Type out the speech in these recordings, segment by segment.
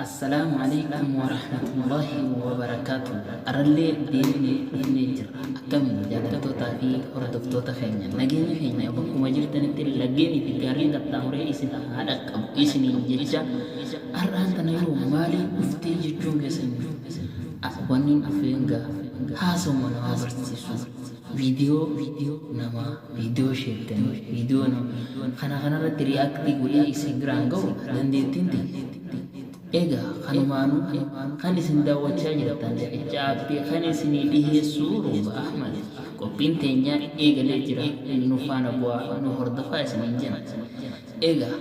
Assalaamu Aleeykum Warahmatullaahi Wabarakaatuh Arrallee deebinee dhufnee jirra akkami jaalattoota fi hordoftoota keenya nageenyi keenya bakkuma jirtanitti laggeenii fi gaarreen qaxxaamuree isin haa dhaqqabu isiniin jecha har'aan tana yoo maaliin dhuftee jechuun keessan wannin dhufeen gaa haasawuma namaa barsiisu Video namaa video sheektanii video namaa kana kanarratti react godhee isin biraan ga'u dandeettiin tiyya. Egaa kanumaanuu kan isin daawwachaa jirtan riqicha aappii kan isinii dhiheessuu Rooba Ahmad qophiin teenyaa eegalee jira nu faana bu'aa nu hordofaa isiniin jenna. Egaa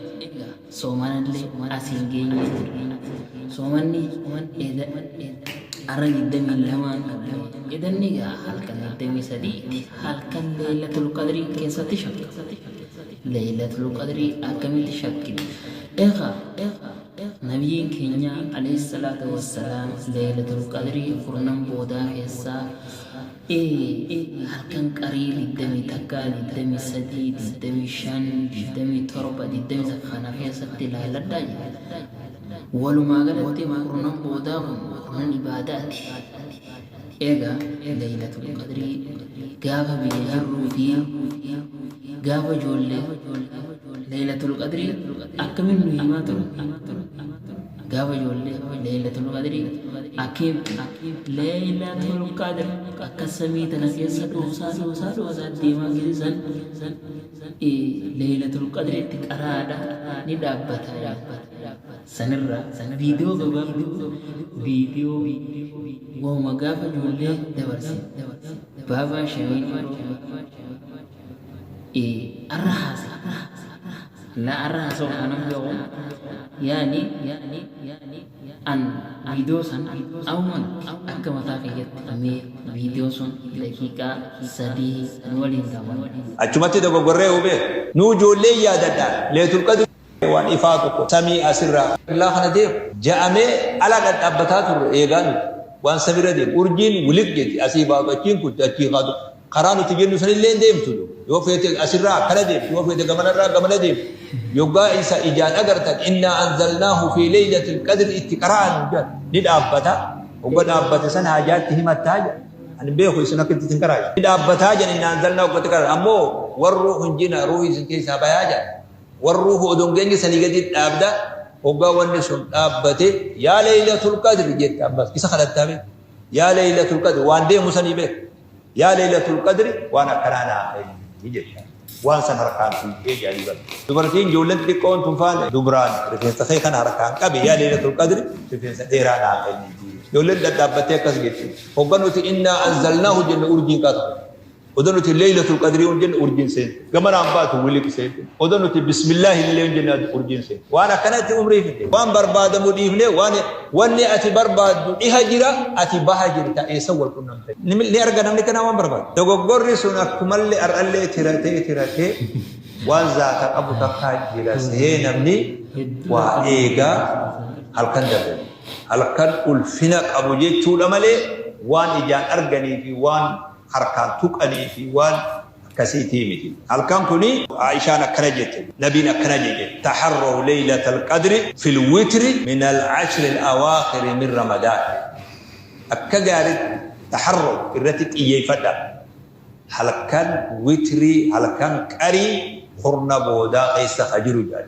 Soomanallee as hin geenyee jirra. Soomanni eda arra 22n qabne. Edanni egaa halkan 23ti. Halkan Leeylatul Qadrii keessatti shakka. Leeylatul Qadrii akkamitti shakkiti? Eega Nabiyyiin keenya alayhi salaatu wassalaam Leeylatul Qadrii kurnan boodaa keessaa e e halkan qarii digdamii takka, digdamii sadii, digdamii shan, digdamii torba, digdamii takka kana keessatti ilaalladhaa jedhe. Walumaa galatti kurnan boodaa kun kurnan ibaadaati. Eega Laylatul Qadrii gaafa biyya jirruu fi gaafa ijoollee Laylatul Qadrii akkamiin nu himaa turan? Gaafa ijoollee Leeylatul Qadrii akkiin Leeylatul Qadr akka samii tana keessa dhoosaa dhoosaa dhoosaa deemaa gisi san Leeylatul Qadri itti qaraadha ni dhaabbata sanirraa viidiyoo gabaabduu viidiyoo wauma gaafa ijoollee dabarse baabaa shanii yeroo ee arra haase laa arra haasa'u kanan ga'u yaani an viidiyoo san awman akka mataa kiyyatti mee viidiyoo sun daqiiqaa sadii nu waliin daawwadha Achumatti dogoggorree hubee. Nuu joollee yaadadha leetul qadri. Waan ifaa tokko samii as irraa qiblaa kana deemu ja'amee ala dhadhaabbataa turre eegaa nuti waan samii irra deemu urjiin wiliq jetti asii baatu achiin kutti achii kaatu karaa nuti jennu san illee hin deemtu yoo feete as irraa akkana deemti yoo feete gamana irraa gamana deemti yoggaa isa ijaan agartan innaa anzalnaahu fi leeylatil qadri itti qara'an jedhan ni dhaabbata hogga dhaabbate san haajaatti himattaa jedhan ani beeku isin akka itti hin qaraaye ni dhaabbataa jedhan innaa anzalnaahu akkatti qara'an ammoo warru hunjina ruuhi isin keessaa bayaa jedhan Warruu koo odon geenye sanii gadii dhaabda hoggaa wanni sun dhaabbate yaa leeylatul qadri jetta ammas isa kadhattaa bee yaa leeylatul qadri waan deemu sanii bee yaa leeylatul qadri waan akkanaa naa kenni jetta waan san harkaan fuudhee jedhanii bar dubartiin ijoolleen xixiqqoon tun faan dubraan rifeensa kee kana harkaan qabi yaa leeylatul qadri rifeensa dheeraa naa kenni ijoolleen dhadhaabbattee akkas jetti hogga nuti innaa anzalnaahu jenne urjiin qaatu Odo nuti leylatul qadri yoon jenne urjiin seente. Gamaraan baatu wiliq seente. Odo nuti bismillahi illee yoon jenne urjiin seente. Waan akkanatti umrii fixne. Waan barbaadamu dhiifne waan wanni ati barbaaddu dhiha jira ati baha jirta eessa wal qunnamta. Ni arga namni kanaa waan barbaadu. Dogoggorri sun akkumallee ar'allee tiratee tiratee waan zaata qabu takka jira sehee namni waa eega halkan dabre. Halkan ulfina qabu jechuudha malee waan ijaan arganii fi waan harkaan tuqanii fi waan akkasiitii miti. Halkan kuni Aa'ishaan akkana jette, Nabiin akkana jedhe, Taharraw leylatal qadri fil witri minal ashril awaakhiri min Ramadaan. Akka gaariitti, taharraw, irratti xiyyeeffadhaa. Halkan witrii, halkan qarii, kurna boodaa keessa ka jiru jedhan.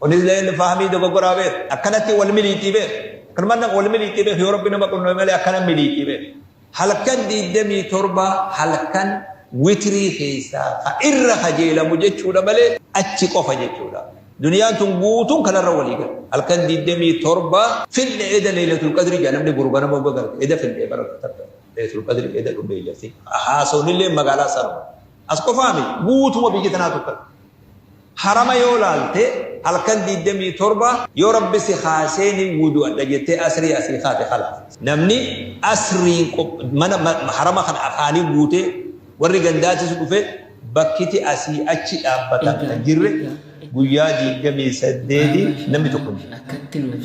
Kunis illee fahamii dogoggoraa beeku. Akkanatti wal miliitii beeku. Kanuma nama wal miliitii beeku yoo rabbi nama qunname malee akkana miliitii beeku. Halkan 27 halkan witrii keessaa ka irra kajeelamu jechuudha malee achi qofa jechuudha. Duniyaan tun guutuun kanarra walii gala. Halkan 27 finne eda leeylatul qadri jedha namni guru ganama uga galte eda finne bara takka leeylatul qadri eda dhumne jarti. Haasoon illee magaalaa sanuma. As qofaa miti guutuma biyya tanaatu akkana. Harama yoo laalte halkan 27 yoo rabbi si kaasee ni wudu'adha jettee asrii asii kaate kalaas. Namni asriin mana harama kana afaanii guutee warri gandaatis dhufe bakkiti asii achi dhaabbatan kan jirre guyyaa 28 namni tokko hin jiru.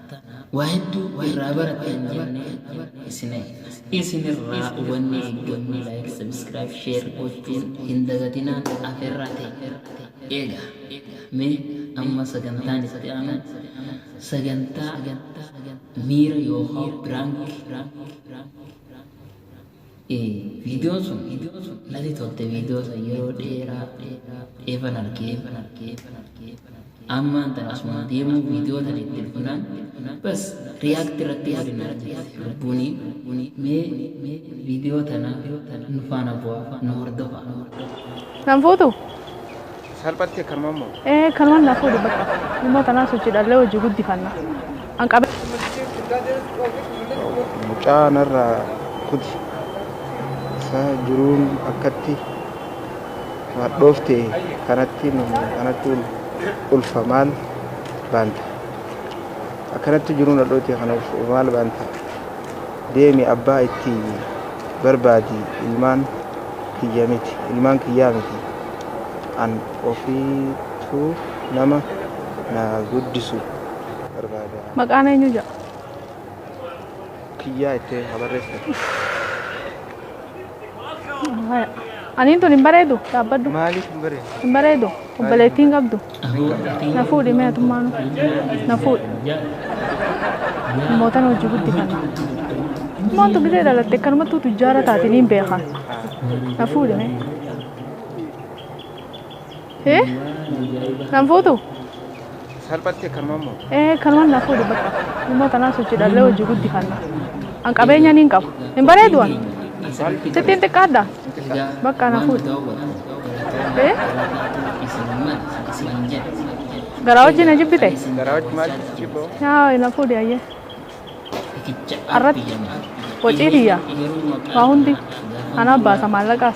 waa hedduu irraa barattan jennee isin isin irraa hubannee eeggannu like subscribe share gochuun hin dagatinaan aferraa ta'e eega mee amma sagantaan itti aanu sagantaa miira yookaan piraank Ee viidiyoon sun nati tolte viidiyoo san yeroo dheeraa eefan argee ammaan tan asuma deemuu viidiyoo tan itti dhufnaan bas riyaakti irratti godhinaa jirti lubbuunii mee viidiyoo tana nu faana bu'aa nu hordofaa. Nan fuutu. Salphatti akkanuma moo? Ee kanumaan naaf fuudhu bakka. Ilmoo tanaan sochiidhaallee hojii guddifanna. An qabe. Mucaa narraa kuti. Isaa jiruun akkatti hadhoofte kanatti nu anatti ul- ulfa maal baanta. Akkanatti jiruun hadhoofte kana ulfa maal baanta. Deemi abbaa itti barbaadi ilmaan kiyya miti ilmaan kiyyaa miti. an ofiitu nama na guddisu barbaada. Maqaan eenyu ja'a? Kiyyaa itti haa barreessan. Haya. Aniin tun hin bareedu dhaabbadhu. Maaliif hin bareedu? Hin bareedu. Obboleettii hin qabdu. Na fuudhi mee atummaanu. Na fuudhi. Mootan hojii guddifata. Moontu gizee dhalatte akkanumattuu tujjaara taate niin beeka. Na fuudhi mee. Eh? Nan fuutu? Salphatti akkanuma immoo. Eh, kanumaan naaf fuudhu bakka. Dhimma kanaa sochiidhaallee hojii guddifanna. An qabeenya niin qaba. Hin bareedu an. Sittiin xiqqaadha. Bakka na fuudhu. Eh? Garaa wajjin na jibbite? Garaa wajjin maal jibboo? Yaa na fuudhi ayyee. Arratti. Wacii tiyya. Waa hundi. Anaa baasa maallaqaas.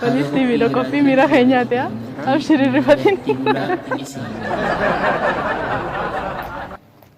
Faniis TV dha qophii miira keenyaati haa. Abshir hin rifatin. Ibulaa isii.